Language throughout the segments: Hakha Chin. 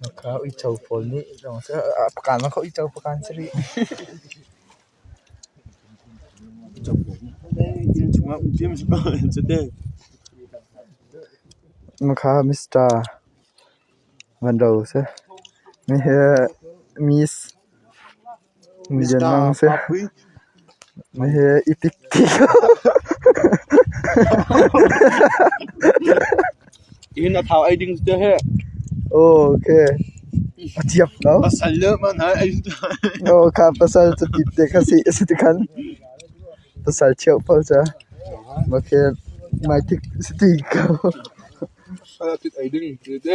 Na kha uico pawl nih pakan si rih. Na kha Mister van ro seh. Mi he Miss. Bianang seh, na he i tik ti ko. In a thau ei ding te he. Ok. A thiam lo. Pasal le man hai ei tu. Oh, kha pasal cu tit te kha si si ti khan. Pasal cheu pau cha. Okay. Mai tik si ti ko. Ala tit ei ding te te.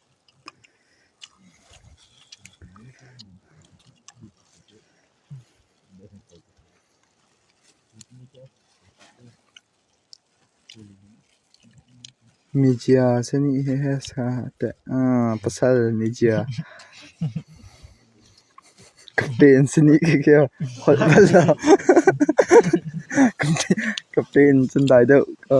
Mizia sihni he pasal mizia kate an sihni khikhiah holh bal lo. Kate in cun dai deuh ka.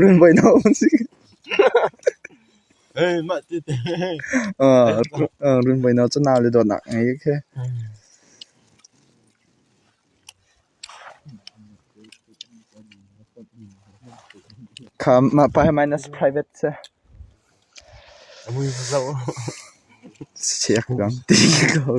Runvoih na hung si. Runvoih na cu nau le dawtnak ngei khi. Kha mah pa he minus private se. Siak gam ti ko.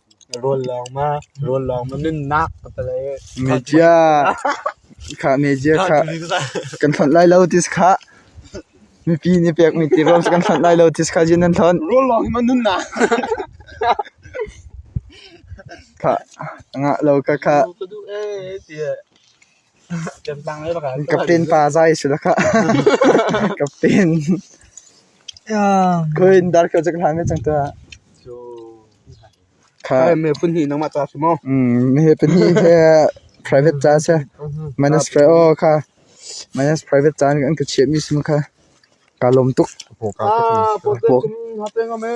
Rawl lawng ma rawl lawng ma nunnak ka ti le media kha media kha kan hlonh lai lo tis khah mipi nih pekmi tirol kan hlonh lai lo tis khah jin an hlonh rawl lawng ma nunnak khah ngah lo ka khah Captain pa zai a si dah khah. Captain. Kuin dar kau cek hlang cang tuah. Kha. Me pun ni nang ma ta si mo. Mm, ni he pun ni he private cha se. Minus pre o kha. Minus private cha ni an ka chiap mi sim kha. Ka lom tuk. Po ka. Ah, po pe kum ha pe ngam e.